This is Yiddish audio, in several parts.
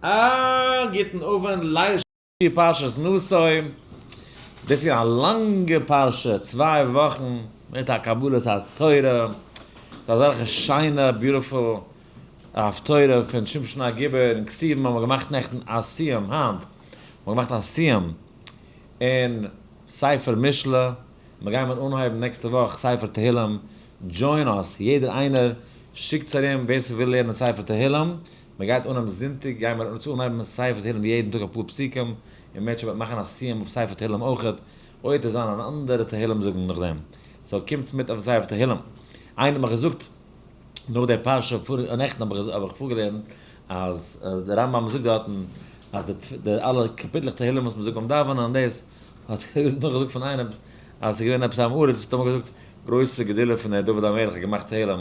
אה, גוטן אָוונט, לייער שיעור פרשת נשא. דאָס איז געווען אַ לאַנגע פרשה, צוויי וואָכן מיט אַ קבלת התורה, מיט אַזעלכע שיינע, ביוטיפול, הפטורה פון שמשון הגיבור און כסלו האָבן מיר געמאַכט נעכטן אַ סיום, היינט האָבן מיר געמאַכט אַ סיום אין ספר משלי, און מיר גיימער אָנהייבן נעקסטע וואָך ספר תהילים. דזשוין אַז יעדער איינער, שיקטס אַרום ווער ס'וויל לערנען ספר תהילים. מען גייט אנהייבן זונטאג גייען מיר אונז אנהייבן מיט ספר תהילים יעדן טאג אפאר פסוקים, און מען עט שוין מאכן א סיום אויף ספר תהילים אויכעט, אויב עט עס זיין אן אנדערע תהילים זאגן נאכדעם, סאו קומטס מיט אויף ספר תהילים. איינער האט מיך געזאגט נאך די פרשה פאריגע נעכטן האב איך האב איך פארגעלערנט אז אז די רמב ם זאגט דארטן אז די די אלע קאפיטלעך תהילים וואס מען זאגט ביים דאווענען און דאס האט נאך געזאגט פון איינעם אז ס'איז געווען עפעס א עם הארץ וואס האט אמאל געזאגט גרויסע גדולה פון דוד המלך האט געמאכט תהילים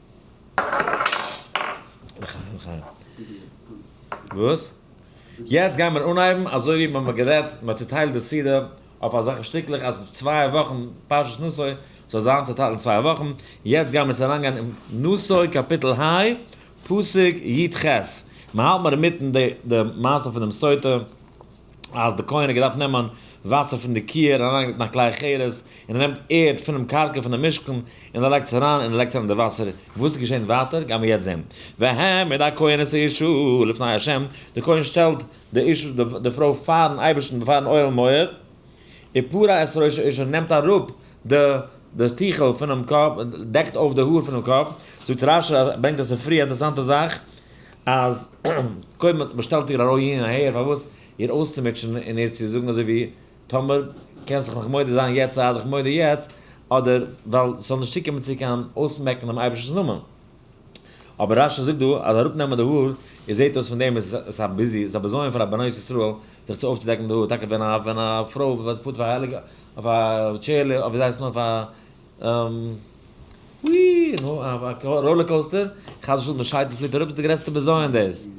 לחיים לחיים. וואס? יעצט גייען מיר אנהייבן אזוי ווי מ'האט גערעדט, מען האט צוטיילט די סדרה אויף אזעלכע שטיקלעך אז צוויי וואכן פרשת נשא זאל זיין צוטיילט אין צוויי וואכן, יעצט גייען מיר צו אריינגיין אין נשא קאפיטל היי פסוק י ט, מ'האלט מיר אינמיטן די מעשה פונעם סוטה. אז די כהן האט געדארפט נעמען וואסער פון די קיער און אריינלייגן אין א כלי אחרת, און ער נעמט ערד פונעם קרקע פון די משכן, און ער לייגט עס אריין, און ער לייגט אריין די וואסער, וואס איז געשען ווייטער גיימיר יעצט זען, והעמיד הכהן את האישה לפני ה', די כהן שטעלט די אישה די פרוי פארן אייבערשטן ביפארן אוהל מועד, ופרע את ראש האישה און נעמט אראפ די די טיכל פונעם קאפ, דעקט אויף די האר פונעם קאפ, זאגט רשי, ברענגט א ספריה, אינטערעסאנטע זאך, אז קודם האט באשטעלט איר ארויף אהין און אהער פארוואס איר אויסצומוטשען און איר צו זאגן אזוי ווי טאמער קענסט זיך נאך מודה זיין יעצט זיי דיך מודה יעצט אדער ווייל ס'זאל נישט צוקומען צו קיין אויסמעקן דעם אייבערשטנ'ס נאמען. אבער רשי זאגט דא אז אראפנעמען די האר איר זעט אויס פון דעם איז עס א ביזיון ס'איז א בזיון פאר א בנות ישראל זיך צו אויפצודעקן די האר טאקע ווען א פרוי וואס פארט אויף א העליגע אויף א טשעירלע אויף ווי זייט עס נאר אויף א און אויף א ראלער קאוסטער, חס ושלום די שייטל פליט אראפ, איז די גרעסטע בזיון דאס.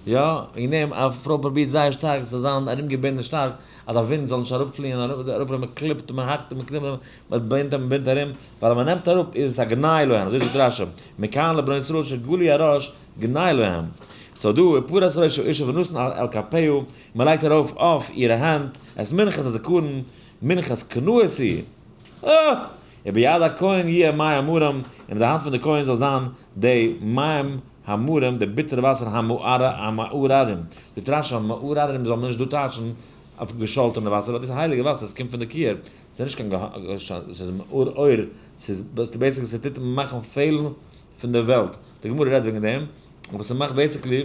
יא, וועגן דעם א פרוי פרובירט זייער שטארק עס זאל זיין ארומגעבינדן שטארק אז א ווינט זאל נישט אראפפליען אראפ, מען קליפט און מען האקט און מען קניפט און מען בינדט און מען בינדט ארום, ווייל אז מען נעמט אראפ איז עס א גנאי להם, אזוי זאגט רשי, מכאן לבני ישראל שגלו הראש גנאי להם. סאו דא איז פרת ראש האישה ונתן על כפהו, און מען לייגט ארויף אויף אירע הענט, עס מנחות הזכרון, מנחות קנאות היא. אה! וביד הכהן יהיה המים המרים, און אין די האנט פון די כהן זאל זיין די מים המרים, די ביטערע וואסער המעוררים, די טרש ה, מעוררים זאל מען נישט דא טייטשן אויף געשאלטענע וואסער, ווייל דאס איז הייליגע וואסער, עס קומט פון די קעיר, עס איז נישט קיין געשאלטענע, עס איז מעורר, עס איז בעיסיקלי עס טוט מאכן פעלן פון די וועלט, די גמרא רעדט וועגן דעם, אבער עס מאכט בעיסיקלי.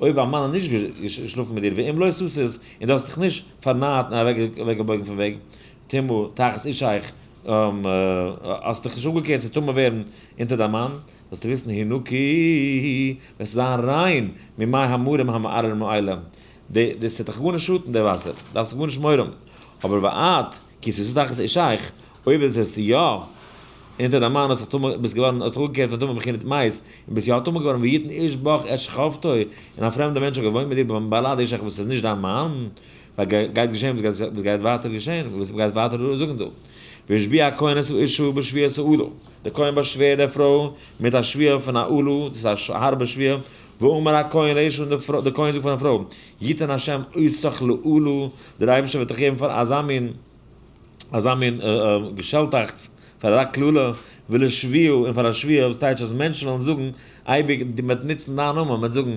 אויב א מאן האט נישט געשלאפן מיט דיר ואם לא סוסת און דו האסט דיך נישט פארנארט און אוועקגעבויגן פון וועג טומאה תחת אישך האסט דיך נישט אפגעקערט צו טמא ווערן אונטער דיין מאן זאלסטו וויסן היא נקי וועסטו זיין ריין ממי המרים המערער מעילה די ס'וועט דיך גארנישט שאטן די וואסער דארפסט גארנישט מורא האבן אבער ואת כ ש שטח איז שייך, אויב איז עס יא אונטער די מים האסט זיך טמא ביסט געווארן האסט זיך אפגעקערט פון טומאה בחינת מית און ביסט יא טמא געווארן ויתן איש בך את שכבתו און א פרעמדע מענטש האט געוואוינט מיט דיר ביים בעלאד איש אך וואס איז נישט דיין מאן ווייל גייט געשען וואס גייט ווייטער געשען וואס מ'גייט ווייטער זאגן דא והשביע הכהן את אשתו בשביעת העולה די כהן באשווערט די פרוי מיט א שביעה פון א עולה דאס איז א הארבע שביעה ואמר הכהן לאשתו די כהן זאגט פאר די פרוי יתן ה' עוסך לעולו, דער אייבערשטער וועט דיך געבן פאר אזא מין אזא מין געשעלטאכטס, פאר אזא קללה, ולשביעה און פאר א שביעה, וואס טייטש אז מענטשן וועלן זאגן אייביג, מען וועט נוצן דיין נאמען, מען וועט זאגן,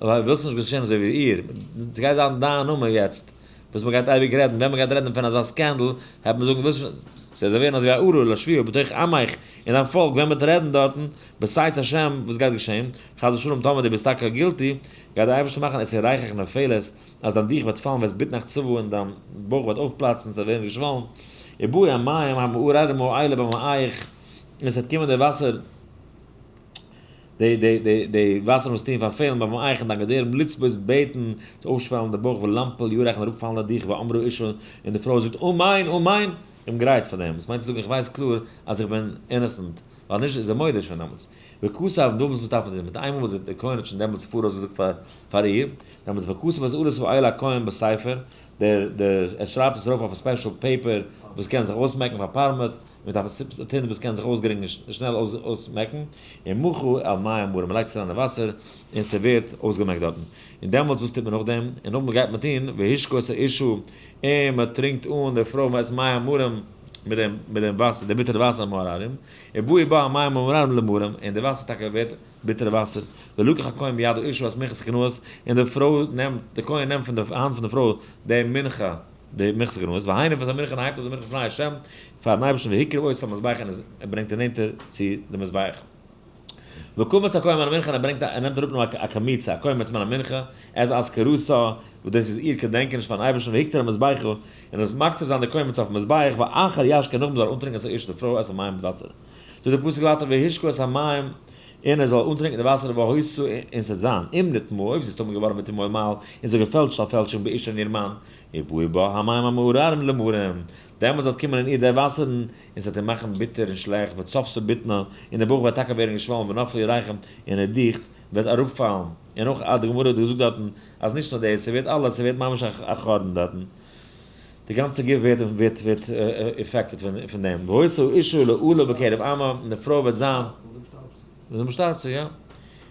ווילסט נישט געשען אזוי ווי איר, עס גייט זיין דיין נאמען יעצט וואס מען גייט אייביג רעדן, ווען מען גייט רעדן פון אזא סקענדל, העט מען זאגן, ווילסט נישט, ס'וועט זיי ווערן אזוי ווי א ארור לשביעה בתוך עמך, אין דיין פאלק ווען מען וועט רעדן דארטן, בעזהש השם וואס גייט געשעהן? חס ושלום טאמער דו ביסט טאקע גילטי, גייט דער אייבערשטער מאכן עסן רייכעך נפילות, אז דיין דיך וועט פאלן וועסט ביטן אך צבא און דיין בויך וועט אויפפלאצן, עס וועט ווערן געשוואלן, ובאו המים המעוררים מועילה במאיך, און עס וועט קומען די וואסער, די וואסערן וואס טוען פארפעלן ביים אייך און דיין געדערם לצבות בעטן, צו אויפשוועלן די בויך ולמפל יורך און אראפפאלן די דיך ואמרו אישה, און די פרוי זאגט אמן אמן, איך בין גרייט פאר דעם, וואס מיינט צו זאגן איך ווייס קלאר אז איך בין אינעסענט, ווייל נישט איז ער מודה שוין דעמאלטס וכסף און דאמאלטס וואס דארף מען דיר מיט איינמאל וואס די כהן האט שוין דעמאלטס פאראויס געזאגט פאר פאר איר דעמאלטס וכסף אז ארז האיל הכהן בספר דער דער ער שרייבט עס ארויף אויף א ספעשל פעיפער וואס קען זיך אויסמעקן פאר פארמעט מיט א טינט וואס קען זיך אויסגרינגן און שנעל אויסמעקן און מוכו על מים מרים מ'לייגט עס אריין אין וואסער און ס'ווערט אויסגעמעקט דארטן און דעמאלטס וואס טוט מען נאכדעם און נאכדעם גייט מען טון והשקות האישה און מ'טרינקט אן די פרוי מ'עסט מים מרים מיט דעם מיט דעם וואסער דעם ביטערן וואסער מר ארם ובאו באו המים מר ארם למרים און דער וואסער טאקע ווערט ביטערע וואסער ולקח הכהן בידו איש וואס מכס כנוס און די פרוי נעמט די כהן נעמט פון די האנט פון די פרוי די מנחה די מכס כנוס והיינו וואס א מנחה הייבט אויף די מנחה פני השם פארן אייבערשטן והקריב אויס על המזבח און עס ברענגט און נענטער צו די מזבח. וקמץ הכהן מן המנחה און ער ברענגט א ער נעמט אראפ נאר א קמיצה א קומץ מן המנחה עז אז כרסה וואס דאס איז איר קעדענקעניש פארן אייבערשטן והקטיר על מזבחו און ער זאל מקטיר זיין די קומץ אויפן מזבח ואחר ישקה נאכדעם זאל ער אנטרינקען עס האיש די פרוי את המים מיט וואסער טוט די פסוק ווייטער והשקו את המים און ער זאל אנטרינקען די וואסער והויסו און ס'עט זיין אם נטמא אויב ס'איז טמא געווארן ותמא עמל און זיך געפעלטשט א פעלטשונג באישה אין איר מאן עיבוי בה המים המעוררים למרים דעמאלטס וועט קומען אין איר דער וואסערן, און ס'וועט איר מאכן ביטער און שלעכט, וצפצף בטנה, און דער בויך וועט טאקע ווערן געשוואלן ונפלו ירחם, און איר דיכט וועט אראפפאלן, און אויך אה, די גמרא האט געזאגט דארטן, אז נישט נאר דאס, ס'ווערט אלעס, ס'ווערט ממש א א חרבן דארטן, די גאנצע גוף ווערט ווערט ווערט עפעקטעד פון דעם, והוצא אישה לעולה בקרב עמה, און די פרוי וועט זיין, און דעם שטארבט זי, יא,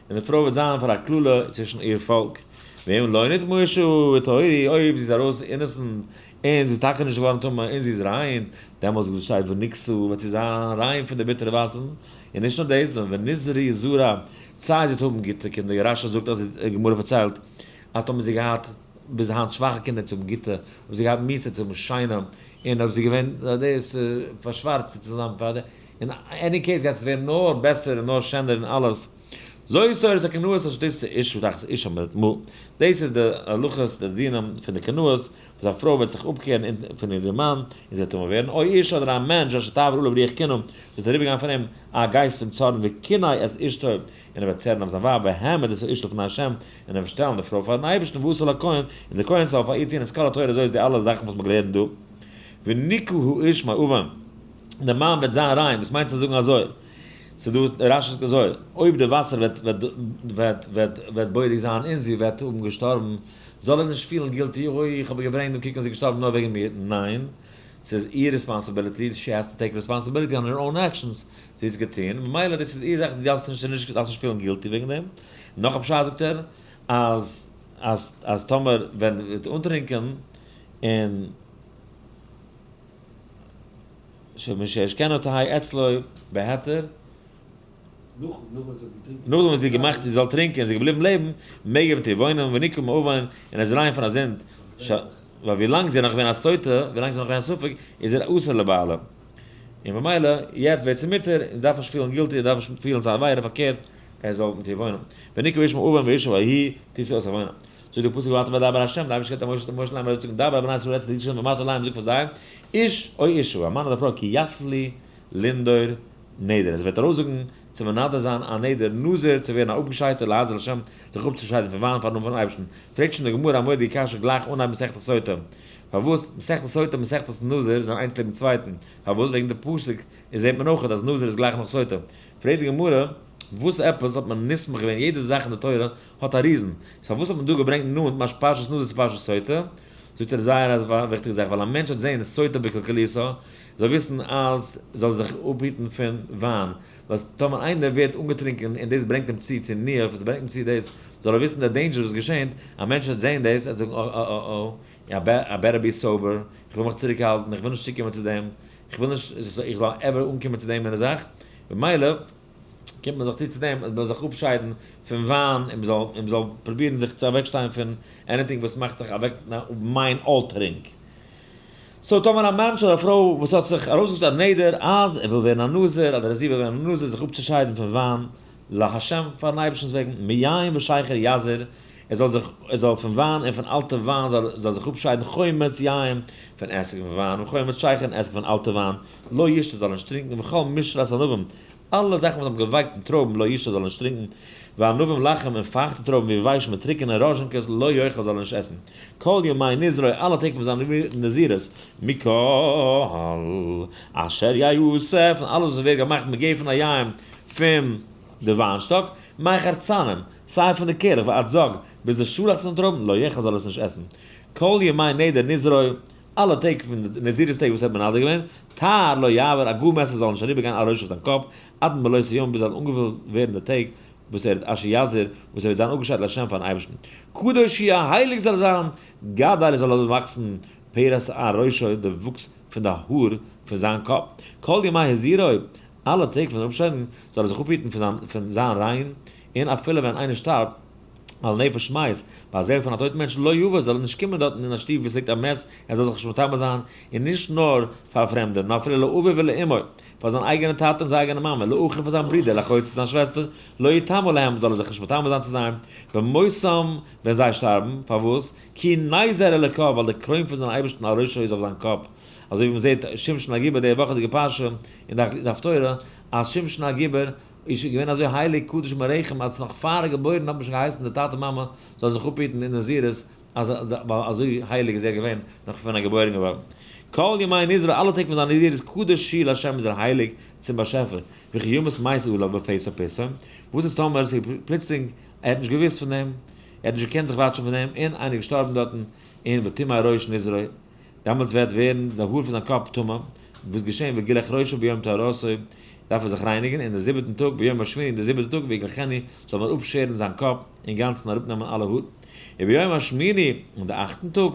און די פרוי וועט זיין פאר א קללה צווישן איר פאלק, ואם לא נתמושו, ותעורי, אויב זי איז ארויס אינעסענט, און זי איז טאַקע נישט געװאָרן טמא, און זי איז רײן, דעמאָלט, זאָגט דאָס שײ, ונקצו, װעט זי זײַן רײן פֿון די ביטערע װאַסערן. און נישט נאָר דאָס, נאָר ונזרי זרע, צײַט זי האָט האָבן גוטע קינדער. רשי זאָגט, אַז די גמרא פֿאַרצײלט, אַז טאָמער האָט זי געהאַט ביז הײַנט שװאַכע קינדער, צו האָבן גוטע, האָט זי געהאַט מוסר צו האָבן שײנע, און אױב זי איז געװען דאָס פֿאַרשװאַרצטע צו זײַן פֿאַר די. אין עני קעיס, גײט עס װערן נאָר בעסער און נאָר שענער און אַלעס. זוי סאָרי, ס'אַ קנאות אַ שדות צו איש ודחת איש אמרת מו. דאָס איז די הלכות, די דינים פֿון די קנאות. וואס א פרוי וועט זיך אפקערן אונטן פון איר מאן, און זי וועט טמא ווערן, אוי איש אדער א מענטש אשר תעבור עליו רוח קנאה, וואס וועט אריבערגיין פון אים א גייסט פון צארן וקנאה את אשתו, און ער וועט צערן אויף זיין ווייב, והעמד את האיש לפני ה', און ער וועט שטעלן די פרוי פארן אייבערשטן, ועשה לכהן, און דער כהן זאל פאר איר טון את כל התורה, אזוי איז די אלע זאכן וואס מען גלערנט דא, ונקה האיש מאביו, און דער מאן וועט זיין ריין, וואס מיינט צו זאגן אזוי, ס'איז דא רשי זאגט אזוי, אויב די וואסער וועט וועט וועט וועט וועט בודק זיין און זי וועט האבן געשטארבן, זאל ער נישט פילן גילטי, אוי איך האב איר געברענגט דעם קוקמאן זי איז געשטארבן נאר וועגן מיר, ניין! ס'איז איר ריספאנסעבילעטי, שי העז טו טעיק ריספאנסעבילעטי אן הער אוין עקשאנס, זי האט עס געטון, ממילא דאס איז איר זאך, דו דארפסט נישט נישט דארפסט נישט פילן גילטי וועגן דעם, נאך א פשט זאגט ער אז אז אז טאמער ווען וועט אנטרינקען און שמש אשכנותי' אצלו בהיתר. נאכדעם וואס זי האט געמאכט זי זאל טרינקען און זי איז געבליבן לעבן, מעג ער מיט איר וואוינען, ונקום מאובן, און ער זאל אריין פון א זינד, ש ה, ווייל ווי לאנג זי איז נאך געווען א סוטה, ווי לאנג זי איז נאך געווען א ספק, איז ער אסור לבעלה, און ממילא יעצט ווערט זי מותר, און זי דארף נישט פילן גילטי, זי דארף נישט פילן ס'איז א עבירה, פארקערט, ער זאל מיט איר וואוינען, ונקום איש מאובן ואישה ויהי, טוט זי אויס א וואוינען. זאגט די פסוק ואתה וידבר השם, די אייבערשטער געבט א משה, משה לאמר זאל זאגן דבר אל בני ישראל רצת לידי שם ואמרת להם זאג פאר זיי, איש או אישה, א מאן אדער א פרוי, כי יפלי לנדור נדר, אז ער וועט ארויסזאגן צו מנדר זיין א נדר, נזיר צו ווערן א אפגעשיידטער לעזר לשם, זיך אפצושיידן פון וויין פארן נאמען פון אייבערשטן, פרעגט שוין די גמרא א מורא'דיגע קשיא גלייך אנהייבן מסכת סוטה, פארוואס מסכת סוטה און מסכת נזיר זענען איינס לעבן צווייטן, פארוואס וועגן די פסוק איז זעט מען אויכעט אז נזיר איז גלייך נאך סוטה, פרעגט די גמרא וואס עפעס האט מען נסמך געווען, יעדע זאך אין די תורה האט א ריזן, סאו פארוואס האט מען דא געברענגט נאנט ממש פרשת נזיר צו פרשת סוטה, זאגט ער זייער א וויכטיגע זאך, ווייל א מענטש האט זעהן סוטה בקלקליותו, זאל וויסן אז זאל זיך אפהיטן פון וויין, ווייל טאמער איינער ווערט אנגעטרונקען און דאס ברענגט אים צו צו ניאוף, עס ברענגט אים צו דאס, זאל ער וויסן די דעינדזשער וואס געשענט, א מענטש וועט זען דאס, ער וועט זאגן אה אה אה אה, איי בעט, איי בעטער בי סאבער, איך וויל מיך צוריקהאלטן, איך וויל נישט צוקומען צו דעם, איך וויל נישט איך זאל עווער אנקומען צו דעם מין זאך, ממילא. קומט מען זיך צו צו דעם אז מ'זאל זיך אפשיידן פון וויין און מ'זאל און מ'זאל פרובירן זיך צו אוועקשטיין פון עניטינג וואס מאכט דיך אוועק מיינד אלטערינג. סאו טאמער א מענטש אדער א פרוי וואס האט זיך ארויסגעשטעלט א נדר אז ער וויל ווערן א נזיר אדער אז זי וויל ווערן א נזיר זיך אפצושיידן פון וויין לה' פאר'ן אייבערשטנ'ס וועגן מיין ושייכער יזהר ער זאל זיך ער זאל פון וויין און פון אלטע וויין זאל זאל זיך אפשיידן חומץ יין פון עסק פון וויין און חומץ שייכער און עסק פון אלטע וויין. לא ישתה זאל נישט טרינקן וכל משרת ענבים אלע זאכן וואס האבן געווייקט אין טרויבן לא ישתה זאל נישט טרינקן וענבים לחם און פארכטע טרויבן ווי ווייש מיט טריקענע ראזשינקעס לא יאכל זאל ער נישט עסן כל ימי נזרו אלע טעג פון זיין נזירות מכל אשר יעשה פון אלעס וואס ווערט געמאכט מגפן פון א יין פון די וויינשטאק מי חרצנים סיי פון די קערעך ועד זאג ביז די שאלאכץ פון די טרויבן לא יאכל זאל ער עס נישט עסן כל ימי נדר נזרו אלע טעג פון די נזירות טעג וואס ער האט מנדר געווען, טהר לא יעבר, א גאר מעסער זאל נישט אריבערגיין א ראש אויף זיין קאפ, עד מלאות היום ביז זאלן אנגעפולט ווערן די טעג וואס ער איז אשר יעזור, וואס ער וועט זיין אפגעשיידט לשם פארן אייבערשטן, קדוש יהיה, הייליג זאל ער זיין, גדל זאל לאזן וואקסן פירות שער ראשו די וואוקס פון די האר פון זיין קאפ, כל ימי הזירוי, אלע טעג פון אפשיידן, זאל ער זיך אפהיטן פון זיין ריין, און אפילו ווען איינער שטארבט, ווייל נפש מית, ביי א זעהל פון א טויטן מענטש, לא יבוא זאל ער נישט קומען דארטן אין א שטוב וואו עס ליגט א מת, ער זאל זיך נישט מטמא זיין, און נישט נאר פאר פרעמדע, נאר אפילו לאביו ולאמו, פאר זיין אייגענע טאטע און זיין אייגענע מאמע, לאחיו פאר זיין ברודער, לאחות פאר זיין שוועסטער, לא יטמא להם זאל ער זיך נישט מטמא זיין צו זיי, במותם ווען זיי שטארבן, פארוואס? כי נזר אלוקיו ווייל די קרוין פון זיין אייבערשטן על ראשו איז אויף זיין קאפ, אזוי ווי מען זעהט שמשון הגיבור די וואכעדיגע פרשה אין די הפטורה, אז שמשון הגיבור, איז שוין געווען אזוי הייליג קדוש מרעיכם אז נאך פאר ער געבוירן האט מען שוין געהייסן די טאטע מאמע זאל זיך אפהיטן אין נזירות אז ווייל אזוי הייליג איז ער געווען נאך פון ער איז געבוירן געווארן. כל ימי נזרו אלע טעג פון זיין נזירות קדוש שיל השם איז ער הייליג צום באשעפער וכי ימות מות עליו בפסח פסח וואס איז טאמער עס איז פלוצלינג ער האט נישט געוואוסט פון דעם ער האט נישט געקענט זיך וואטשן פון דעם און איינער איז געשטארבן דארטן און ותימא ראש נזרו דעמאלטס וועט ווערן די האר פון זיין קאפ טמא, וואס געשען וגילח ראשו ביום טהרתו, דארף ער זיך רייניגן, און די זיבעטן טאג ביום השמיני און די זיבעטע טאג ויגלחני זאל מען אפשערן זיין קאפ אינגאנצן און אראפנעמען אלע האר, וביום השמיני און די אכטן טאג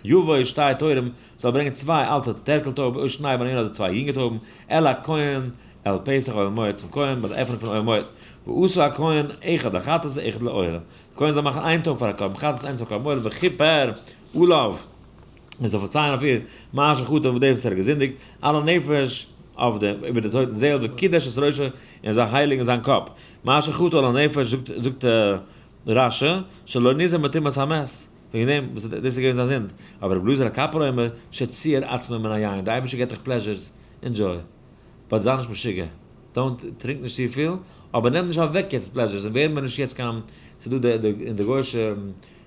יבוא שתי טורים זאל ער ברענגען צוויי אלטע טערקל טויבן אויס שניי ביינער אדער צוויי יונגע טויבן אל הכהן על פסח אוהל מועד צום כהן ביי די עפענונג פון אוהל מועד, ועשה הכהן אחד לחטאת ואחד לעולה, די כהן זאל מאכן איין טויב פאר א קרבן חטאת איינס פאר קרבן עולה וכיפר אליו, מען זאל פארציילן אויף איר מה שחטא אויף דעם וואס ער האט געזינדיגט, על הנפש, אויף דעם, איבער דער טויטן זעהל, וקידש את ראשו, און זיי הייליגן זיין קאפ, מה שחטא על הנפש, זאגט רשי, שלא ניזהר מטומאת המת, וועגן דעם וואס דאס איז געווען זיין זינד, אבער רבי אלעזר הכפרה אומר, שציער עצמו מן היין, דער אייבערשטער געבט דיך פלעזשערס, ענדזשוי, באט זיי נישט משוגע, דאונט, טרינק נישט צופיל, אבער נעם נישט אוועק יעצט פלעזשערס, און ווער מיר נישט יעצט קיין, ס'איז דא די, אין די גוי'שע.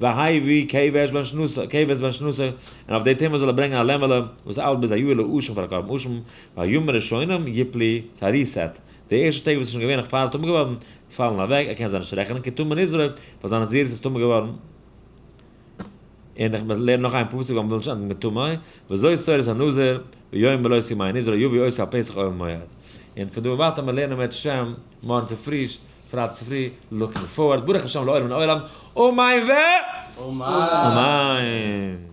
והאי ו כ ו עש בן שנותא, כ ו עש בן שנותא, און אויף די טעמע זאל ער ברענגען א לעמעלע וואס איילט ביז א יאהר לאושן פאר א קרבן אשם, והימים הראשונים יפלי, ס'איז א ריסעט, די ערשטע טעג וואס איז שוין געווען נאך פאר ער איז טמא געווארן, פאלן אוועק, ער קען זיי נישט רעכענען כטמא נזרע, ווייל זיין נזירות איז טמא געווארן, און איך לערן נאך איין פסוק ווייל מ'וויל נישט ענדיגן מיט טמא, וזאת תורת הנזיר, ביום מלאת ימי הנזרע יביא עושה הפסח אוהל מועד, און פון דא און ווייטער מיר לערנען בעזהשי ת מארגן צופרי, פרייד צופרי, לוקינג פארווארד, ברוך השם לעולם מן עולם, אמן ו אמן!